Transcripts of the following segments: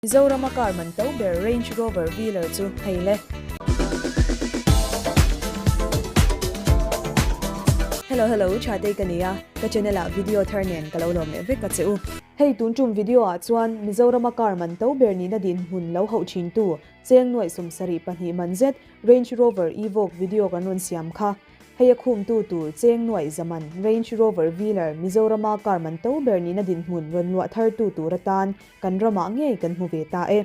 Mizorama car man to ber Range Rover Velar chu hei le. Hello hello Thatei ka nia, ka channel ah video thar nen ka lo lawm leh vek ka che u. Hei tun tum video ah chuan Mizorama car man to ber nihna dinhmun lo hauh thin tu cheng nuaih sum sarih pahnih man zet Range Rover Evoque video kan rawn siam kha. Hei a khum tu tur cheng nuaih zaman Range Rover Velar Mizorama car man to ber nihna dinhmun rawn luah thar tu tur atan Kan ramah ngei kan hmu ve ta e.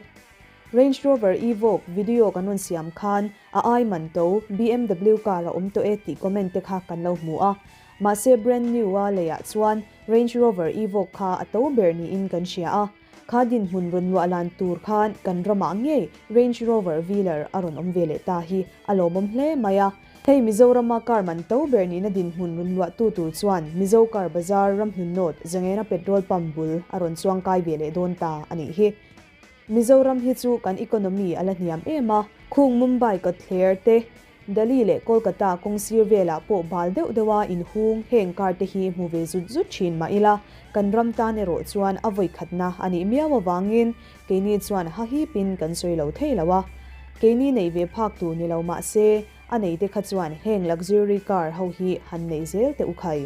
Range Rover Evoque video kan rawn siam khan a ai man to, BMW car a awm tawh e tih comment te kha kan lo hmu a. Mahse brand new a lei ah chuan Range Rover Evoque kha a to ber niin kan hria a. Kha dinhmun rawn luahlan tur khan kan ramah ngei Range Rover Velar a rawn awm ve leh ta hi a lawmawm hle mai a. Hei Mizorama Karm an to ber nihna dinhmun runluahtu tur chuan Mizo Kar Bazar ramhnunnawt Zengena Petrol Pump bul a rawn chuangkai ve leh dawn ta a nih hi. Mizoram hi chu kan economy a la hniam em a. Khung Mumbai kawtthler te, Delhi leh Kolkata kawng sir velah pawh bal deuh deuh a inhung heng kar te hi hmu ve zut zut thin mah ila, kan ram tan erawh chuan a vawikhatna a nih miau avangin Keini chuan hahip in kan sawi lo thei lo a, keini neih ve phak tur ni lo mah se a nei te kha chuan heng luxury car ho hi han neih zel teh u khai.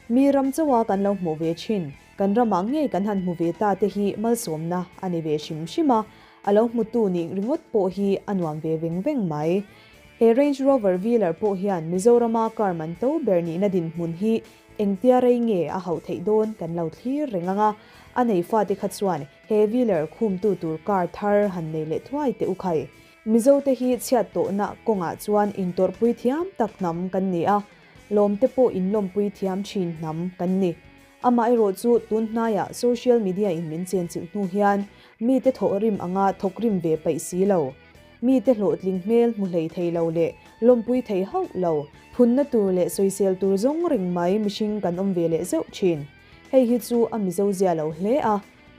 Mi ram chauh a kan lo hmuh ve thin, kan ram ah ngei kan han hmu ve ta te hi malsawmna a ni ve hrim hrim a, a lo hmu tu nih ringawt pawh hi a nuam ve veng veng mai. He Range Rover Velar pawh hian Mizoram a car man to ber nihna dinhmun hi engtia rei nge a hauh theih dawn kan lo thlir reng ang a, a nei fa te kha chuan He Wheeler khumtu tur car thar han nei leh thuai teh u khai. Mizote hi chhiat tawhna kawngah chuan intawrhpui thiam tak hnam kan ni a, lawmte pawh inlawmpui thiam thin hnam kan ni. Amaherawh chu tunhnaiah social media in min chenchilh hnu hian mite thawh rim anga thawk rim ve paih si lo, mite hlawhtling hmel hmu hlei thei lo leh lawmpui thei hauh lo, phunna tur leh sawisel tur zawng reng mai mihring kan awm ve leh zeuh thin. Hei hi chu a mizo zia lo hle a,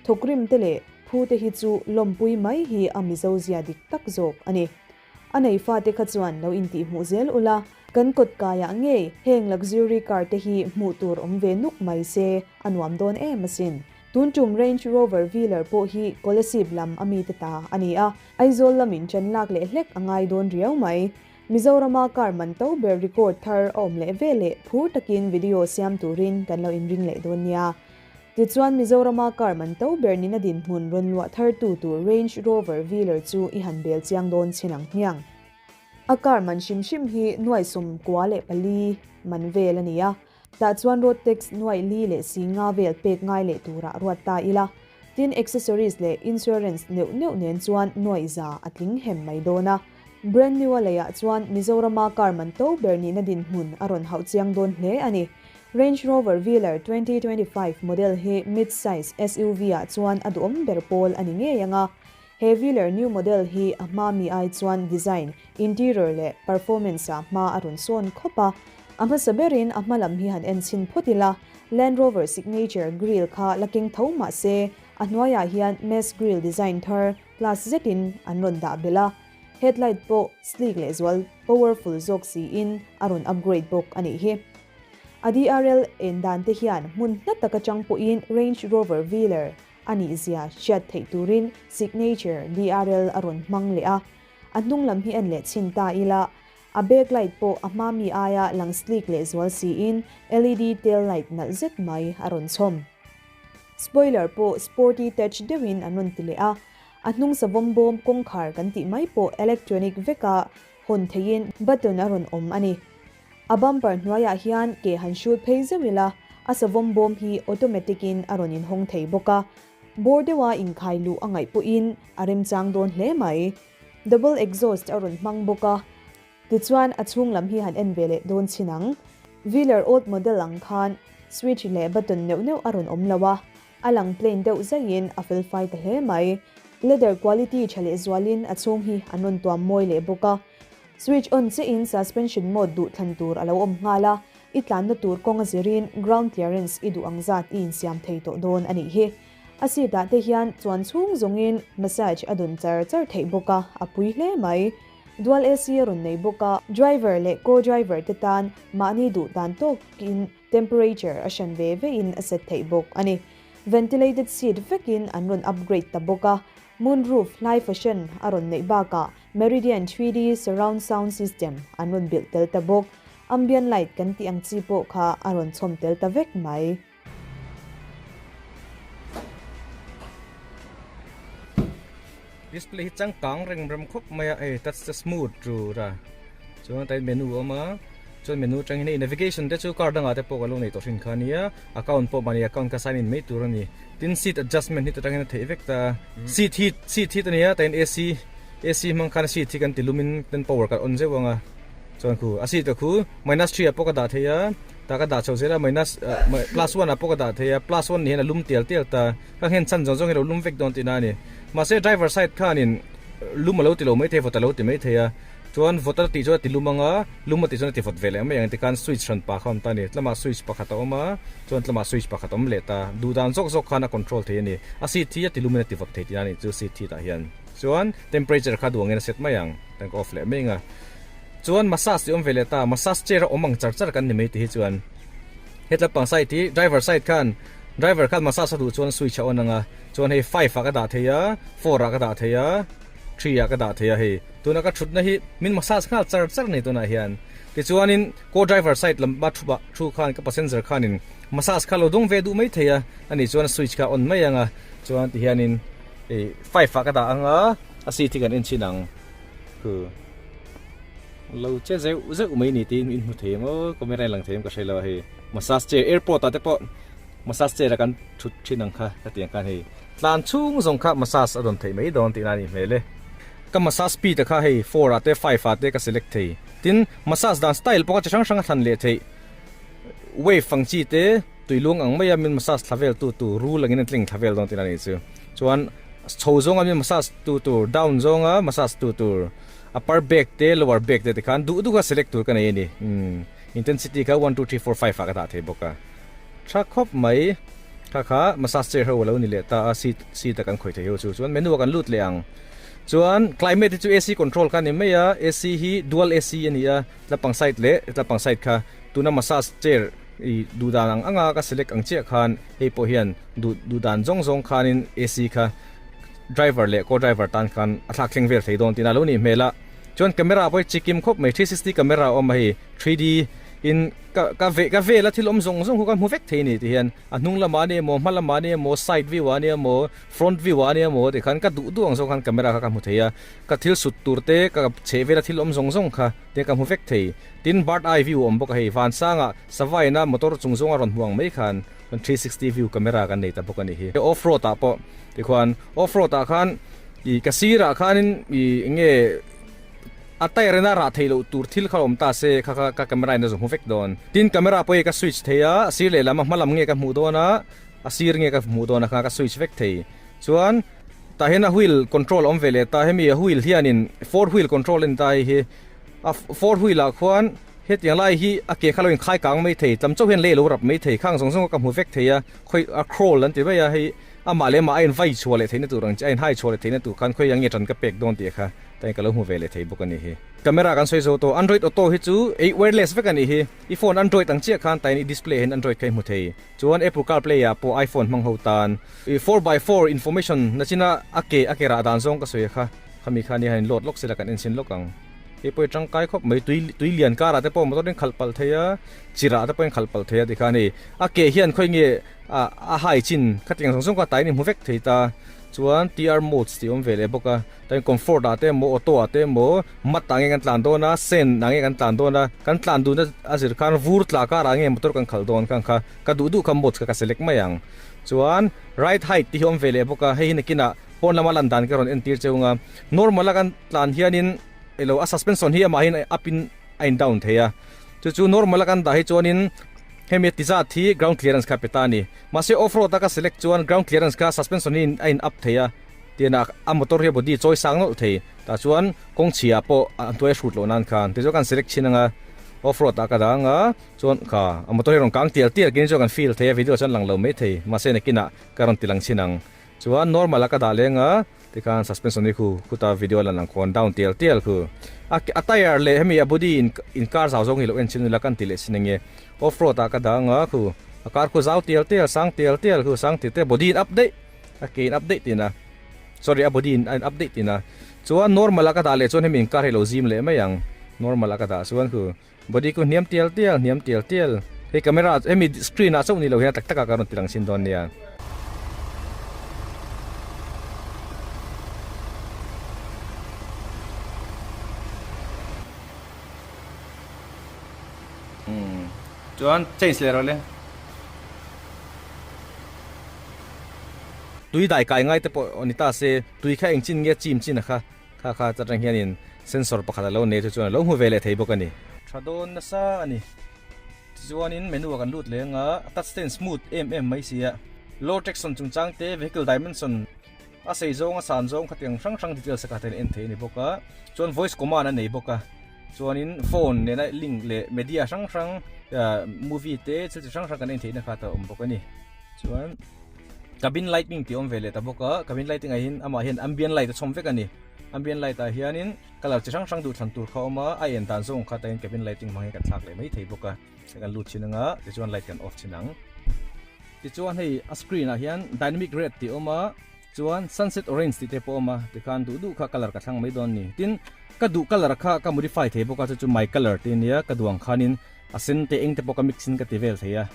thawkrim te leh phu te hi chu lawmpui mai hi a mizo zia dik tak zawk a ni. A nei fa te kha chuan lo intihhmuh zel ula, kan kawt kai ah ngei heng luxury car te hi hmuh tur awm ve nuk mai se a nuam dawn em asin. Tun tum Range Rover Velar pawh hi Kolasib lam a mi te ta a ni a, Aizawl lam in chanlak leh hlek a ngai dawn riau mai. Mizorama kar man to ber record thar a awm leh ve leh phur takin video siam turin kan lo inring leh dawn nia. Tichuan Mizorama kar man to ber nina dinhmun rawn luah thar tu tur Range Rover Velar chu i han bel chiang dawn chin ang hmiang. A kar man hrim hrim hi nuaisum kua leh pali man vel a ni a. Tah chuan road tax nuaih li leh si nga vel pek ngai leh tura ruat ta ila, tin accessories leh insurance neuh neuh nen chuan nuaih za a tling hem mai dawn a. Brand new-a leiah chuan Mizorama car man to ber nihna dinhmun a rawn hauh chiang dawn hle a ni. Range Rover Velar twenty twenty five model hi mid-size SUV-ah chuan a duhawm ber pawl a ni ngei ang a, He Velar new model hi a hma mi ai chuan design, interior leh performance ah hma a rawn sawn khawp a. A hmasa ber in a hma lam hi han en chhin phawt ila, Land Rover signature grille kha la keng tho mahse a hnuai ah hian Mess grille design thar class zet in an rawn dah belh a. Headlight pawh sleek leh zual, powerful zawk si in a rawn upgrade bawk a nih hi. A DRL en dan te hian hmun hla tak atang pawh in Range Rover Velar a nih zia hriat theih turin signature DRL a rawn hmang leh a, a hnunglam hi en leh chhin ta ila, a backlight pawh a hma mi aia lang sleek leh zual siin LED tail light nalh zet mai a rawn chhawm. Spoiler pawh sporty touch deuhin an rawn ti leh a, a hnung savawm bawm kawngkhar kan tih mai pawh electronic veka hawn theihin button a rawn awm a ni. A bumper hnuaiah hian ke han hrut phei zeuh ila, a savawm bawm hi automatic in a rawn inhawng thei bawk a. Bawr deuha inkhai luh a ngaih pawhin a remchang dawn hle mai. Double exhaust a rawn hmang bawk a, tichuan a chhung lam hi han en ve leh dawn chin ang. Velar old model ang khan switch leh button neuh neuh a rawn awm lo a, A lang plain deuh zaihin a felfai ta hle mai. Leather quality tha leh zualin a chhung hi a nawn tuam mawi leh bawk a. Switch on chiahin suspension mode duh thlan tur a lo awm nghal a, i tlanna tur kawng a zirin ground clearance i duh ang zat i insiam thei tawh dawn a nih hi. A seat ah te hian chuan chhung zawngin massage a dun char char theih bawk a, a pui hle mai. Dual AC a rawn nei bawk a. Driver leh co-driver te tan mahni duh dan tawkin Temperature a hran ve ve in a set theih bawk a ni. Ventilated seat vek in an rawn upgrade ta bawk a. Moon roof hlai fashion a rawn neih bak ah Meridian three D surround sound system an rawn bilh tel ta bawk. Ambient light kan tih ang chi pawh kha a rawn chhawm tel ta vek mai. Display hi changkang reng rem khawp mai a hei touch te smooth chu ra chuan a tain menu a awm a chuan menu atang hian hei navigation te chu car dangah te pawh kan lo nei tawh thin kha a nia account pawh mahni account kha sign in mai tur a ni tin seat adjustment hi chutang hian a theih vek ta seat hi seat hi ta nia tain AC AC hmang khan seat hi kan ti lum in kan power kan on zeuh ang a chuan khu a seat ka khu minus three ah pawh ka dah thei a tah ka dah chho zel a minus plus one ah pawh ka dah thei a plus one nih hian a lum tial tial ta. Ka nghen chhan zawng zawng i lo lum vek dawn tih na a ni. Mahse driver side khanin lum a lo ti lo mai thei, vawt a lo ti mai thei a, chuan vawt a tih chuan a ti lum ang a, lum a tih chuan a ti vawt ve leh mai ang i ti khan switch hran pa kha awm ta a ni. Tlamah switch pakhat a awm a, chuan tlamah switch pakhat a awm leh ta. Duh dan zawk zawk khan a control thei a ni. A seat hi a ti lumin a ti vawt thei tih na a nih chu seat hi tah hian. Chuan temperature kha duangin a set mai ang, a inka off leh mai ang a. Chuan massage i awm ve leh ta, massage chair a awm ang char char kan ni mai tih hi chuan, Hetla pang side hi driver side khan driver khan massage a duh chuan switch a on anga chuan hei five ah ka dah thei a four ah ka dah thei a three ah ka dah thei a hei tuna ka thutna hi min massage nghal char char nei tunah hian tichuanin ko driver side lam ba thuba thu khan ka passenger khanin massage kha lo dawng ve duh mai thei a ani chuan switch kha on mai anga chuan ti hianin ei five ah ka dah anga a si thik an en chin ang Khu lo che zeuh zeuh mai ni tiin min hmu thei ang aw, kawng mirai lang thei ang ka hre lo a hei massage chair airport ah te pawh massage chair ah kan thut thin ang kha ka ti ang khan hei tlan chhung zawng kha massage a dawn theih mai dawn tihna a nih hmel e. Ka massage speed a kha hei four ah te five ah te ka select thei tin massage dan style pawh kha chi hrang hrang a thlan leh theih wave ang chi te, Tui lung ang maia min massage thla vel tu tur rul angin an tling thla vel dawn tiin a nih chu. Chuan chho zawnga min massage tu tur, down zawnga massage tu tur, upper back te lower back te te khan duh duh a select tur ka nei a ni. Intensity kha one two three four five ah ka dah thei bawk a. Tha khawp mai. Kha kha massage chair ho a lo ni leh ta a, seat seat a kan khawih theih ho chu. Chuan menu a kan lut leh ang. Chuan climate hi chu AC control kha a ni mai a. AC hi dual AC a ni a, tla pang side leh tla pang side kha. Tuna massage chair. I duh dan ang anga ka select ang chiah khan hei pawh hian duh duh dan zawng zawng khanin AC kha driver leh co driver tan khan a thlak thleng vel thei dawn tiin a lo nih hmel a chuan camera a pawh chikim khawp mai three sixty camera a awm a hei three D in ka ka ve ka vela thil awm zawng zawng kha ka hmu vek thei a ni tih hian a hnung lamah ania maw hma lamah ania maw side view ah ania maw front view ah ania maw tih khan ka duh duh ang zawng khan camera kha ka hmu thei a ka thil sut tur te ka chheh vela thil awm zawng zawng kha te ka hmu vek thei. Tin, bird eye view awm bawk a hei. Vansanga savaina motor chung zawnga rawn hmu ang mai khan three sixty view camera kan nei ta bawk a ni hi. Hei off road ah pawh tikhuan off road ah khan ih ka sirah khanin ih enge a tyre ina rah thei loh tur thil kha awm ta se kha kha ka camera in a zawh hmu vek dawn. Tin, camera pawh hi ka switch thei a, a sir leh lam a hma lam nge ka hmuh dawn a, a sir nge ka hmuh dawn a kha ka switch vek thei. Chuan. Tah hian a wheel control a awm ve leh ta, hemi a wheel hianin four wheel control a ni ta hei hi. A four wheel ah khuan hetiang lai hi a ke kha lo inkhai kang mai thei, tam chauh hian lei a lo rap mai thei, khang zawng zawng a ka hmu vek thei a, khawi a crawl an ti mai a, hei amah leh amah a invai chhuah leh theihna tur ang che, a inhai chhuah leh theihna tur khan khawi ange tan ka pek dawn tih kha ta hian ka lo hmu ve leh thei bawk a ni hi. Camera kan sawi zo tawh, Android Auto hi chu wireless vek a ni hi, i phone Android ang chiah khan ta hian i display ah hian Android kha i hmu thei. Chuan Apple Carplay ah pawh iPhone hmang ho tan i four by four information na chin a a ke a ke rah dan zawng ka sawi a kha. Khami kha anihahin load lawk sila kan en sin lawk ang. Hei pawhin tangkai khawp mai tui tui lian kar ah te pawh motor in khalh palh thei a, chirh ah te pawhin khalh palh thei a ti kha ani. A ke hian khawi nge a a hai chin kha tiang zawng zawng kha tain i hmu vek thei ta chuan TR modes tih awm ve leh bawk a. Chuan comfort ah te emaw auto ah te emaw mat ah nge kan tlan dawn a sen ah nge kan tlan dawn a kan tlan dun a zir khan vur tla kar ah nge motor kan khal dawn khan kha ka duh duh kha modes kha ka select mai ang chuan ride hide te hi a awm ve leh bawk a hei hi nakin ah pawn lama lan dan ka rawn en tir che ung a normal ah kan tlan hian in ilo a suspension hi amah hi up in a in down thei a chu chu normal ah kan dah hi chuan in hemi a ti zat hi ground clearance kha a pe ta a ni mahse off road ah ka select chuan ground clearance kha suspension hi a in up thei a Tinak a motor hi a body chawi sang nawlh thei. Tah chuan kawng chhia pawh a hnuai a hrut loh nan khan tichuan kan select thin anga off road ah ka dang a chuan ka a motor hi rawn kang tial tial khin chuan kan feel thei a video chuan lang lo mai thei mahse nakinah ka rawn ti lang thin ang chuan normal ah ka dah leng a tikhan suspension hi khu khutah video lan ang khawn down tial tial khu a a tyre leh hemi a body in in kar zau zawng hi lo en chin ila kan ti leh chin ange off road ah ka dang a khu a kar khu zau tial tial sang tial tial khu sang thei te body in up daih a ke in update ina sorry a body in a update ina chuan normal a ka dah leh chuan hemi car hi lo zim leh mai ang normal a ka dah chuan khu body ku hniam tial tial hniam tial tial hei camera hemi screen ah chauh ni lo hian tak tak a ka rawn ti rang chin dawn nia chuan change leh rawh le Tui dai kai ngai te pawh ni ta se, tui kha eng chin nge chim chin a kha, kha kha chutah hian in sensor pakhat a lo nei chu chuan a lo hmu ve leh thei bawk a ni. Tha dawn nasa a ni. Tichuan in menu a kan lut leng a, a touch te in smooth em em mai si a. Low traction chungchang te, vehicle dimension, a sei zawng a san zawng kha tiang hrang hrang details a kah ten a en thei a ni bawk a. Chuan voice command a nei bawk a, chuan in phone nena link leh media hrang hrang, movie te thil chi hrang hrang kan en theihna kha te a awm bawk a ni. Chuan cabin lighting tih awm ve leh ta bawk a, cabin lighting ah hian amah hian ambient light a chhawm vek a ni. Ambient light ah hianin colour chi hrang hrang duhthlan tur kha a awm a, a en dan zawng kha tain cabin lighting hmang hi kan thlak leh mai thei bawk a. Hei kan lut thin ang a, tichuan light kan off thin ang. Tichuan hei a screen ah hian dynamic red tih a awm a. Chuan sunset orange tih te pawh a awm a, tikhan duh duh kha colour ka thlang mai dawn a ni. Tin, ka duh colour kha ka modify thei bawk a, chu chu my colour tih a nia, ka duang khanin a sen te eng te pawh ka mix in ka ti vel thei a.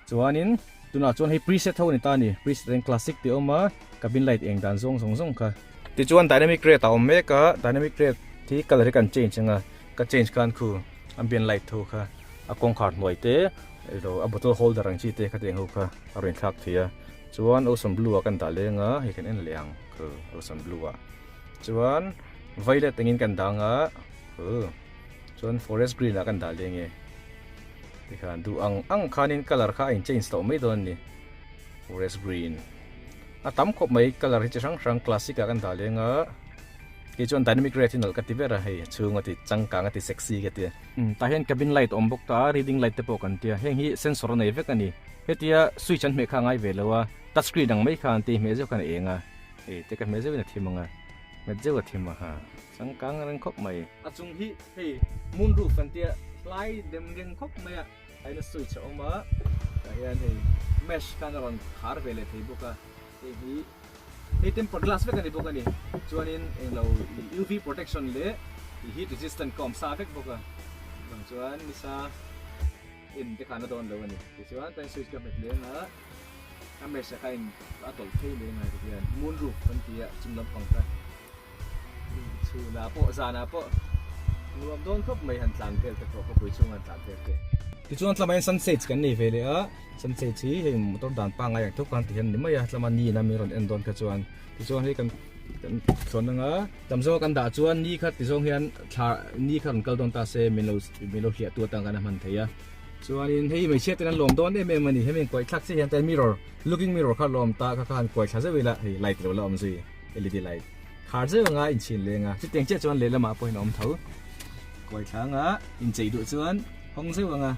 Chuanin, tunah chuan hei preset ho a ni ta a ni, preset reng classic tih a awm a, ka bin light eng dan zawng zawng zawng kha. Tichuan dynamic red a awm mek a, dynamic red hi colour hi kan change anga, ka change khan khu a bin light ho kha a kawngkhar hnuai te, Eiloh a bottle holder ang chi te kha tiang ho kha a rawn inthlak thei a, chuan ocean blue ah ka indah leng a, hei kan en leh ang kha ocean blue ah chuan violet engin ka indang a kha chuan forest green ah ka indah leng e tikhan duh ang ang khanin colour kha a in change tawh mai dawn a ni forest green a tam khawp mai colour hi chi hrang hrang classic ah ka indah leng a kei chuan dynamic red hi nalh ka ti ber a hei a chhunga ti changkang a ti sexy ka ti. Tah hian cabin light a awm bawk ta a, reading light te pawh kan tia, heng hi sensor a nei vek a ni. Hetia switch an hmeh kha a ngai ve lo a, touch screen ang mai kha an tih hmeh zeuh kha an eng a. Hei te ka hmeh zeuhin a thim ang a, nghet zeuh a thim a ha. Changkang a reng khawp mai. A chung hi hei moon roof kan tia, hlai dem reng khawp mai a aina switch a awm a, tah hian hei mesh khan a rawn khar ve leh thei bawk a, hei hi. Hei tempered glass vek a ni bawk a ni. Chuanin englo UV protection leh heat resistant ka awm sa vek bawk a. Bang chuan ni sa en te khan a dawn lo a ni. Tichuan tlai switch ka nghet leng a, a mesh a kha in a tawlh phei leh ngai ka hian moon roof kan tia chung lampang kha. Chhunah pawh, zanah pawh nuam dawn khawp mai han tlan vel te pawh khawpui chhunga an tlan vel te. Tichuan tlamain Sunshades kan nei ve leh a, Sunshades hi hei motor dan pangngai ang theuh khan ti hian ni mai a, tlama ni ina min rawn en dawn kha chuan tichuan hei kan kan thluan ang a, tam zawnga kan dah chuan ni kha ti zawng hian thla ni kha rawn kal dawn ta se min lo min lo hliah tu atang kan a hman thei a, chuanin hei hmeichhia ten an lawm dawn em em a ni, hemi an kuaithlak chiah hian te an mirror looking mirror kha lawm ta kha khan kuaithla zeuh ila hei light lo la awm zui. led light khar zeuh anga in chhin leng a chutiang chiah chuan lehlamah pawhin a awm tho kuaithlanga in chei duh chuan hawng zeuh anga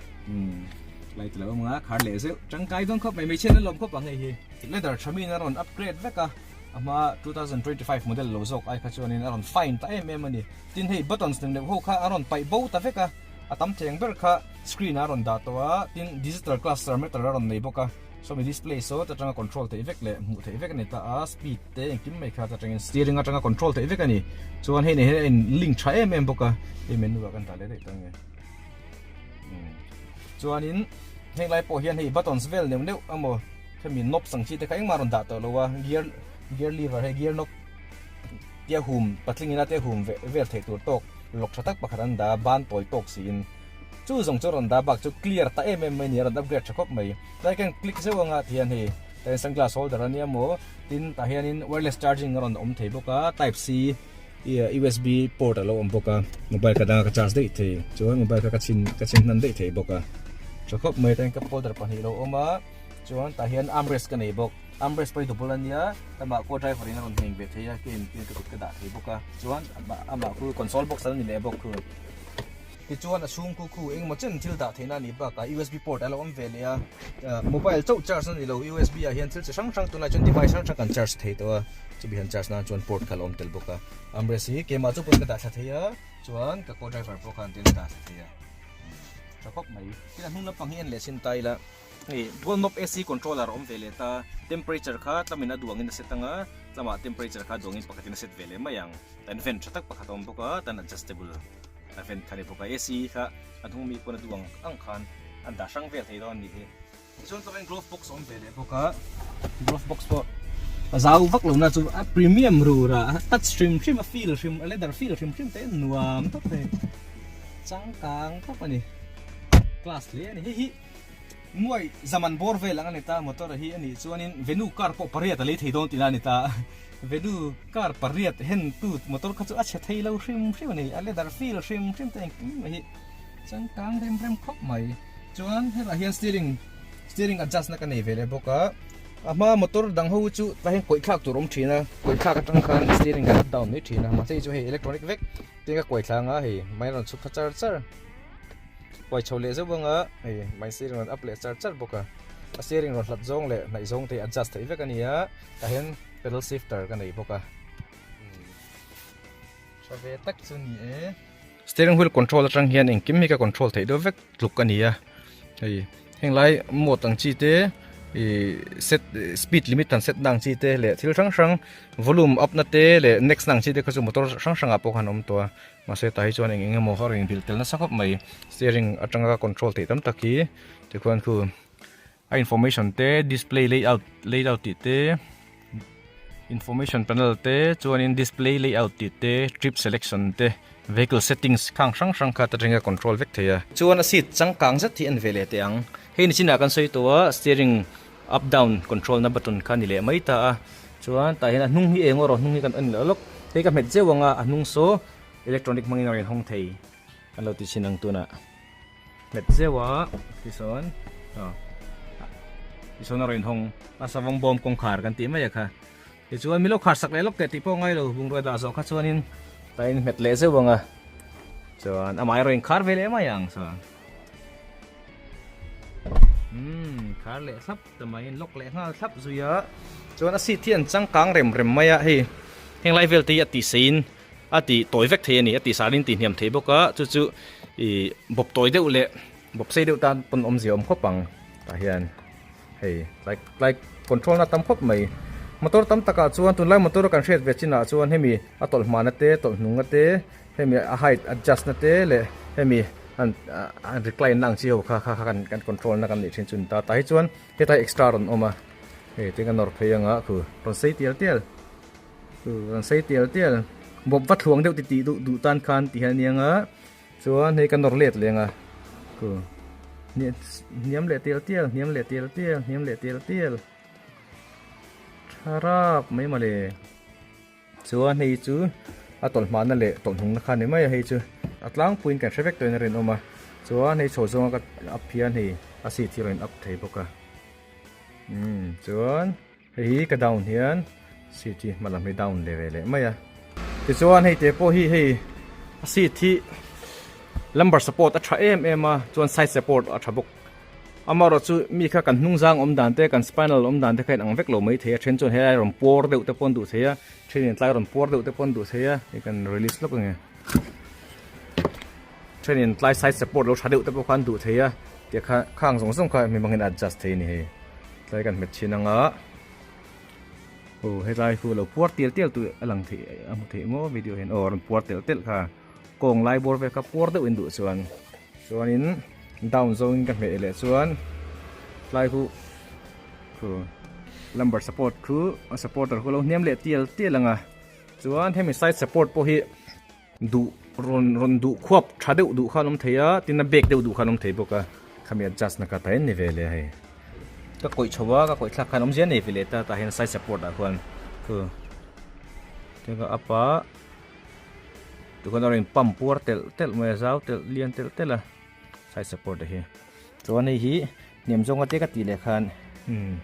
light lo awm anga khar leh zeuh tangkai dawn khawp mai mai chhian a lawm khawp ang hei hi leather thamin a rawn upgrade vek a ama 2025 model lo zawk ai kha chuan in a rawn fine ta em em ani tin hei buttons nem neuh ho kha a rawn paih bo ta vek a a tam thleng ber kha screen a rawn dah tawh a tin digital class tharmatter a rawn nei bawk a Sawmi display saw ta tanga control thei vek le hmuh thei vek ani ta a speed te engkim mai kha ta tangin steering atanga control thei vek ani chuan hei nei hian in link tha em em bawk a hei menu ah kan ta leh daih ta nge chuan in heng lai pawh hian hei buttons vel neuh neuh emaw khami knob sang chi te kha engmah rawn dah tawh lo a gear gear lever hei gear knob tia hum patling ina te hum ve vel thei tur tawk lawk tha tak pakhat an dah a ban tawi tawk si in Chu zawng chu rawn dah bak chu clear ta em em mai nia rawn upgrade tha khawp mai. Tlai khan click zeuh anga tihian hei tlai sunglass holder ania maw tin tah hianin wireless charging a rawn awm thei bawk a type C usb port alo awm bawk a mobile ka danga ka charge daih thei chuan mobile kha ka chhin ka chhin hnan daih thei bawk a tha khawp mai tlai cup holder pahnih alo awm a chuan tah hian armrest ka nei bawk armrest pawh hi double ania amah ko driver in a rawn heng ve thei a keng keng ka kut ka dah thei bawk a chuan amah khu console box a la ni leh bawk khu. Tichuan a chhung khu khu engemaw chen thil dah theihna a nih bakah USB port a lo awm ve leh a. Mobile chauh charge a ni lo USB ah hian thil chi hrang hrang tunah chuan device hrang hrang kan charge thei tawh a, chumi han charge nan chuan port kha a lo awm tel bawk a. Armrest hi keimah chu pawn ka dah thla thei a, chuan ka co driver pawh khan an dah thla thei a, tha khawp mai. Tin a hnung lampang hi a en leh sin ta ila. Hei, dual knob AC controller a awm ve leh ta, temperature kha tlamin a duangin a set anga, tlamah temperature kha duangin pakhatin a set ve leh mai ang. Tan vent tha tak pakhat a awm bawk a, tan adjustable a vent kha a ni bawk a, AC kha a hnung mi pawn a duang ang khan an dah hrang vel thei dawn anih hi. Tichuan tlawkin glove box a awm ve leh bawk a, glove box pawh a zau vak lo na chu a premium rur a, touch hrim hrim a feel hrim a leather feel hrim hrim te nuam tak te changkang khawp a ni, class hle a ni. Hei hi. Muai zaman bawr vel ang a ni ta, motor a hi a nih chuanin venue car pawh pariat a lei thei dawn tina a ni ta. Venue car pariat hen tut motor kha chu a chhe thei lo hrim hrim a ni, a leather feel hrim hrim ta engkim a hi. Chuan kang rem rem khawp mai. Chuan helaiah hian steering, steering adjust na ka nei ve leh bawk a, a hma motor dang ho chu tlai hian kawithlak tur a awm thin a, kawithlak atang khan steering kan up down mai thin a, mahse hei chu hei electronic vek te ka kuaithla anga hei mah ilo chhuk kha char char. Huai chho leh zeuh anga hei hmainsi rinrawn up leh char char bawk a, a sir rinrawn hlat zawng leh hnaih zawng te adjust theih vek a ni a, tah hian pedal shifter ka nei bawk a, tha ve tak chu ni e. Steering wheel control atang hian engkim hi ka control theih deuh vek tluk a ni a, hei henglai mode ang chi te ih set speed limit han set na ang chi te leh thil hrang hrang volume up na te leh next na ang chi te kha chu motor hrang hrangah pawh kha an awm tawh a. Mahse tah hi chuan eng eng emaw kha a rawn inbîl tel nasa khawp mai. Steering aṭanga control theih tam tak hi Tikhûan khu a information te, display layout layout tih te, information panel te, chuanin display layout tih te, trip selection te, vehicle settings khâng hrang hrang kha aṭanga control vek thei a. Chuan a seat changkâng zet hi a en ve leh teh ang. Hei ni chinah kan sawi tawh a, steering. Up down control na button kha ni leh mai ta a, chuan tah hian a hnung hi eng aw rawh, hnung hi kan en leh lawk, hei ka hmet zeuh anga a hnung saw electronic hmangin a rawn inhawng thei kan lo ti chin ang tunah hmet zeuh a tisawn aw tisawn a rawn inhawng a savawng bawm kawngkhar kan tih mai a kha. Tichuan, milo khar sak leh lawk teh tih pawh ngai lo bungrua dah zawh kha chuanin ka inhmet leh zeuh ang a, chuan amah erawh inkhar ve leh mai ang chuan umm khar leh thlap ta mai, in lock leh nghal thlap zui a, chuan a seat hi an changkang rem rem mai a, hei henglai velte hi a tihseiin a tih tawi vek thei a ni, a tihsarin tih hniam thei bawk a, chu chu ih bawp tawi deuh leh bawp sei deuh tan pawn awmzia awm khawp ang tah hian. Hei tlai tlai control na a tam khawp mai motor tam takah chuan tunlai motor a kan hriat ve chinah chuan hemi a tawlh hmahna te tawlh hnunga te hemi a height adjust na te leh hemi an an recline na ang chi ho kha kha kha kan control na kan nih thin chu a ni ta a tah hi chuan hetlai extra a rawn awm a hei tin ka nawr phei ang a khu rawn sei tial tial khu rawn sei tial tial bawp va thluang deuh titih duh duh tan khan tih hi a nia ang a. Chuan hei ka nawr let leng a, ku hniam hniam leh tial tial, hniam leh tial tial, hniam leh tial tial, tha rap mai mawle. Chuan hei chu a tawlh hmahna leh tawlh hungna kha a ni mai a, hei chu a tlangpuiin kan hre vek tawhin a rinawm a, chuan hei chho zawnga ka up hian hei a seat hi a rawn in up thei bawk a, umm chuan. Hei hi ka down hian seat hi hma lam hi down leh ve leh mai a. Tichuan hei te pawh hi hei a seat hi lumbar support a tha em em a chuan side support a tha bawk. Amaherawh chu mi kha kan hnungzang awm dan te kan spinal awm dan te kha in ang vek lo mai thei a then chuan helai rawn puar deuh te pawh an duh thei a, thenin tlai rawn puar deuh te pawh an duh thei a, hei kan release lawk ange. Thenin tlai side support lo tha deuh te pawh khan duh thei a, tia kha khang zawng zawng kha mi mangin a adjust thei a ni hei. Tlai kan hmet thin ang a. Aw helai chu lo puar tial tial tu a lang thei a hmu thei maw video hian, aw a rawn puar telh telh kha. Kawng lai bawr vel kha puar deuh in duh chuan. Chuanin down zawngin ka hmeh leh chuan tlai chu aw lumbar support chu a supporter chu a lo hniam leh tial tial ang a. Chuan hemi side support pawh hi. Duh rawn rawn duh khuap tha deuh duh khan awm thei a, tin a bek deuh duh khan awm thei bawk a. Khami adjust na ka ta en ni ve le hei. Ka kawih chho a, ka kawih thlak khan awm zia nei ve le ta, tah hian side support ah khuan khu te ka up a, tun khan a rawn in pump puar telh telh mai a, zau telh lian telh telh a. Side support a hi. Chuan hei hi hnem zawnga te ka tih leh khan. Hmm.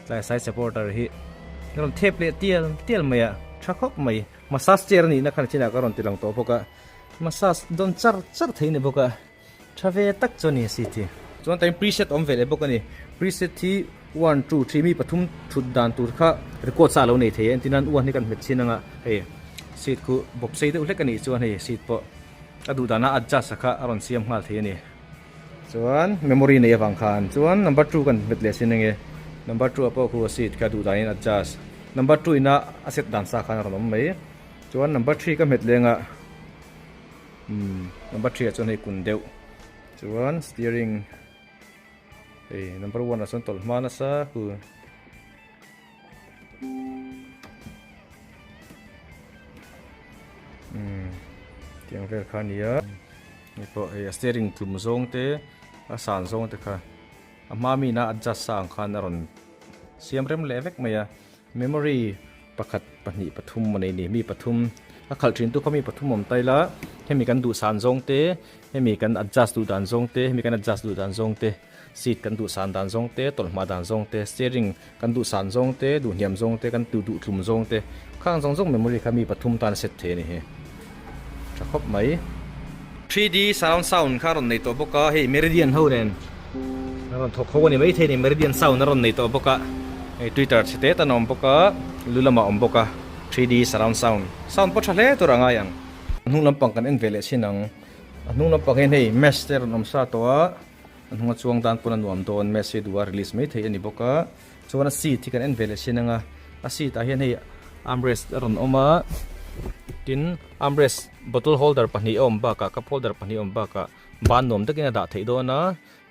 Tlai side support a hi. Ka rawn thep leh tial tial mai a. Tha khawp mai. Massage chair a nih na khan a chin ah ka rawn ti lang tawh bawk a. Massage dawn char char thei a ni bawk a. Tha ve tak chu a ni a seat hi. Chuan tain preset a awm ve leh bawk a ni. Preset hi one two three mi pathum thut dan tur kha record sa a lo nei thei a. Entir nan u an ni kan hmet chin ang a. Hei seat khu bawp sei deuh hlek a nih chuan hei seat pawh. Ka duh dan a adjust a kha a rawn siam nghal thei a ni. Chuan memory nei avang khan chuan number two kan hmet leh sin enge. Number two a pawh khu a seat kha duh dan in adjust number two in a a set dan sa khan a rawn awm mai. Chuan number three ka hmet leng a umm number three ah chuan hei kun deuh chuan steering hei number one ah chuan tawlh hma nasa khu. umm tiang vel kha nia ni pawh hei a steering tlum zawng te a san zawng te kha a hma mina adjust sa ang khan a rawn siam rem leh vek mai a memory pakhat pahnih pathum a nei ni mi pathum a khalh thin tu kha mi pathum awm ta ila hemi kan duh san zawng te hemi kan adjust duh dan zawng te hemi kan adjust duh dan zawng te. Seat kan duhsan dan zawng te, tawlhmah dan zawng te, steering kan duhsan zawng te, duhniam zawng te, kan duh thlum zawng te, khang zawng zawng memory kha mi pathum tan a set thei a ni hi. Tha khawp mai. Three D surround sound kha a rawn nei tawh bawk a, hei Meridian ho nen a rawn thawk ho a ni maithei a ni, Meridian sound a rawn nei tawh bawk a, hei Twitter chhe te tan a awm bawk a, lu lamah a awm bawk a, Three D surround sound, sound pawh tha hle tur a ngai ang. A hnung lampang kan en ve leh chin ang, a hnung lampang hian hei mesh te a rawn awm sa tawh a, A hnunga chuang dan pawn a nuam dawn, Messi duhah release mai theih a ni bawk a, chuan a seat hi kan en ve leh sin anga, a seat ah hian hei armrest a rawn awm a, tin armrest bottle holder pahnih a awm bakah, cup holder pahnih a awm bakah ban nuam takin a dah theih dawn a,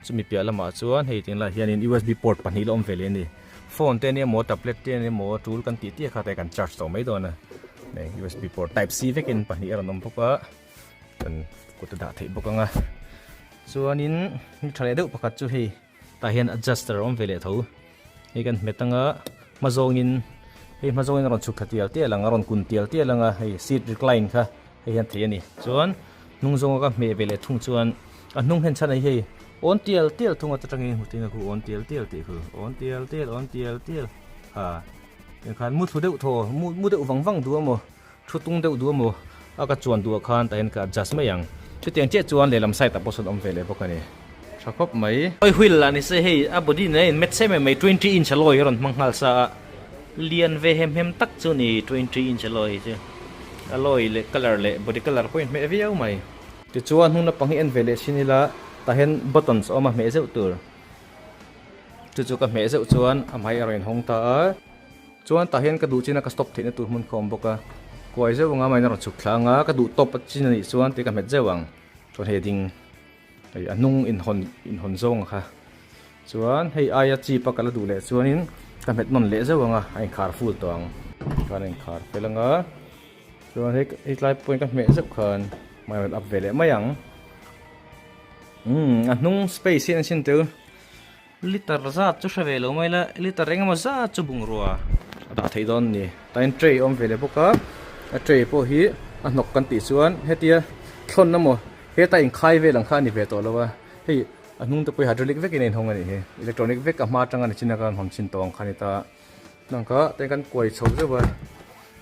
chumi piah lamah chuan hei eng lah hian usb port pahnih la awm ve leh a ni, phone te emaw tablet te emaw tul kan tih tih kha te kan charge tawh mai dawn a, usb port type C vekin pahnih a rawn awm bawk a. kan kut a dah theih bawk anga chuanin mi tha leh deuh pakhat chu hei tah hian adjuster a awm ve leh tho hei kan hmet anga hma zawngin hei hma zawngin a rawn chhuk thla tial tial ang a rawn kun tial tial anga hei seat recline kha hei hian theih a ni chuan hnung zawnga ka hmeh ve leh thung chuan a hnung hen chhan ai hei awn tial tial thung a chutangin hmu thin a khu awn tial tial tih khu awn tial tial awn tial tial ha tiang khan mu thlu deuh thaw mu mu deuh vang vang duh a maw Thu tung deuh duh a maw? A ka chuan duh ah khan tah hian ka adjust mai ang. Chutiang chiah chuan lehlam side ah pawh sawn awm ve leh bawk a ni. Tha khawp mai. Oi huil lah nise hei a body nen a inmet sep em mai twenty inch alloy hi a rawn hmang nghal sa a. Lian ve hem hem tak chu ni twenty inch alloy hi chu. Alloy leh colour leh body colour pawh a inhmeh viau mai. Tichuan hnung lampang hi en ve leh sin ila tah hian buttons a awm a hmeh zeuh tur. Chu chu ka hmeh zeuh chuan a hmai a rawn inhawng ta a. Chuan tah hian ka duh chin a ka stop theihna tur hmun kha awm bawk a, kuai zeuh anga mine a rawn chhuk thla ang a, ka duh top a chin a nih chuan tih ka hmet zeuh ang, chawhne ding hei a hnung inhawn inhawn zawng kha chuan hei aia chip a ka la duh leh chuanin ka hmet nawn leh zeuh ang a, a inkhar full tawh ang, chuan a inkhar fel ang a, chuan hei hei tlai pawh in ka hmeh zeuh khan mine a rawn up ve leh mai ang, umm a hnung space hi an sin tel. Liter zat chu hre ve lo mai la, liter eng emaw zat chu bungrua a dah theih dawn a ni. Tain tray a awm ve leh bawk a, a tray pawh hi a hnawk kan tih chuan hetia thlawn emaw heta inkhai vel ang kha a ni ve tawh lo a, hei a hnungte pawh hydraulic vekin a inhawng a nih hi, electronic vek a hma atanga ni chin a kan rawn han chhin tawh ang kha a ni ta. Hna kha tei kan kuai chho zeuh a,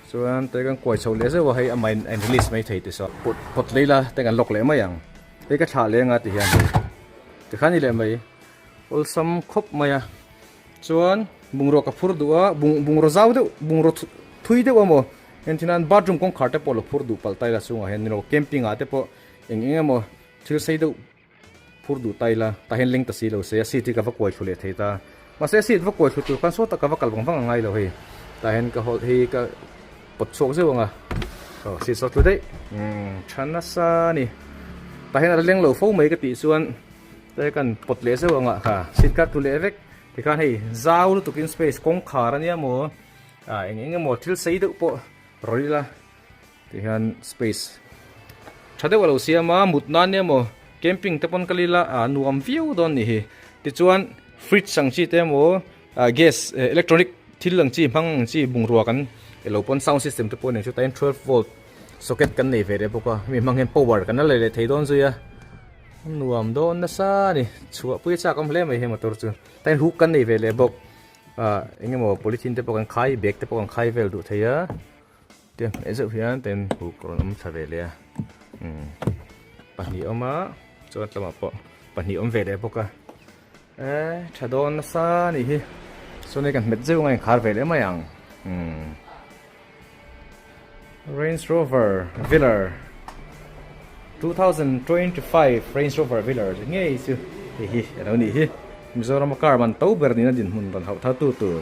chuan tei kan kuai chho leh zeuh a hei a mine a in release mai thei tisaw pawt lei la tei kan lock leh mai ang tei ka thlah leng a ti hian hei tikhan ni leh mai awlsam khawp mai a chuan bungraw ka phur duh a bung bungraw zau deuh bungraw thui deuh a maw engtin an bathroom kawngkhar te pawh la phur duh palh taila chungah hian ni lo camping ah te pawh eng eng emaw thil sei deuh Phur duh ta ila, tahin leng ta si lo se, a seat hi ka va kuai thlu leh thei ta. Mahse a seat va kuai thlu tur khan sawta ka va kal vang vang a ngai lo hei. Tahin ka hawlh hi ka pawt chhuak zeuh ang a, aw seat saw tlu daih, umm tha nasa a ni. Tahin a leng lo fo mai ka tih chuan tahin ka han pawt leh zeuh ang a, ha seat ka tlu leh vek. Tikhan hei zau lutuk in space kawngkhar a nia maw, eng eng emaw thil sei deuh pawh rawl ila. Tih hian space tha deuh a lo siam a, mut nan e maw, camping te pawn ka lil a, aa nuam viau dawn ni hi. Tichuan fridge ang chi te emaw, gas, electronic thil ang chi hmang ang chi bungrua kan e lo pawn, sound system te pawh a nen chu tain twelve volt socket kan nei ve leh bawk a, hemi hmang hian power kan la lei leh thei dawn zui a, a nuam dawn nasa a ni. Chhuah pui a chak awm hle mai he motor chu, tain hluk kan nei ve leh bawk, aa eng emaw polythene te pawh kan khai, bag te pawh kan khai vel duh thei a. Tih a hmeh zeuh hian ta in huk rawn awm thla ve leh a, umm pahnih awm a chuan tlama pawh pahnih awm ve leh bawk a, eh tha dawn nasa a nih hi, chuan hei kan hmet zeuh nga inkhar ve leh mai ang, umm Range Rover Velar. Two thousand twenty five Range Rover Velar te ngei chu hei hi a lo nih hi Mizoram a car ban to ber niin a dinhmun rawn hauh thautu tur.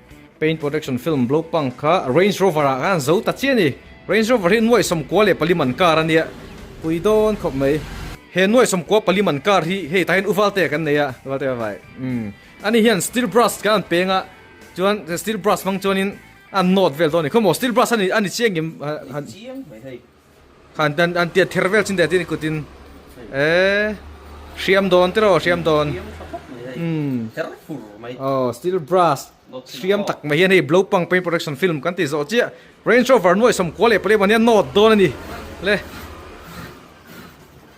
Paint Protection Film Blow Punk kha Range Rover ah khan zo ta chiah a ni. Range Rover hi nuaih sawmkua leh pali man car a nia. Pui dawn khawp mai. He nuaih sawmkua pali man car hi hei tahin U Valte kan nei a, U Valte va vai. Umm. Ani hian steel brush kan han peng a, chuan steel brush hmang chuanin a han nawt vel dawn a ni. Khawmaw steel brush a ni chiang em? Chiang mai hei. An an an tia ther vel chin te tin i kut in e hriam dawn tiraw hriam dawn um ther fur mai oh steel brass hriam tak mai hian hei blow pang paint protection film kan ti zawh chiah range rover nuaihsawm kual leh pawh leh mawni a nawt dawn a ni le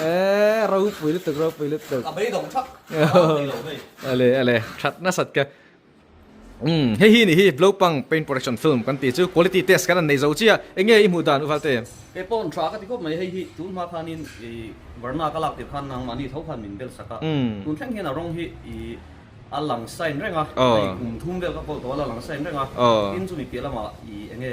Eee ropui lutuk ropui lutuk. A bei dawng thak. Ale ale that nasat ka. Um hei hi ni hi Blopang Paint Production Film kan ti chu quality test kan an nei zo chia enge i hmuh dan u Valte? Kei pawh tha ka ti khawp mai hei hi tun hma khan in i varna ka lak tir khan nang mahni tho khan min bel sak a tun thleng hian a rawng hi i a lang sign reng a hei kum thum vel ka pawl tawh a la lang sign reng a tin chu mi piah lamah i enge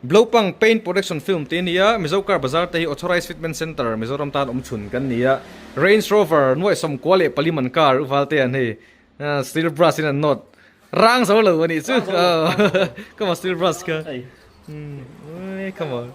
Blopang Paint Production Film tih a ni a, Mizo Car Bazar te hi Authorised Fitment Centre Mizoram tan awm chhun kan ni a, Range Rover nuaihsawm kua leh pali man car uval te an hei steel brush in an nawt rang zo lo a nih chu come on steel brush kha come on.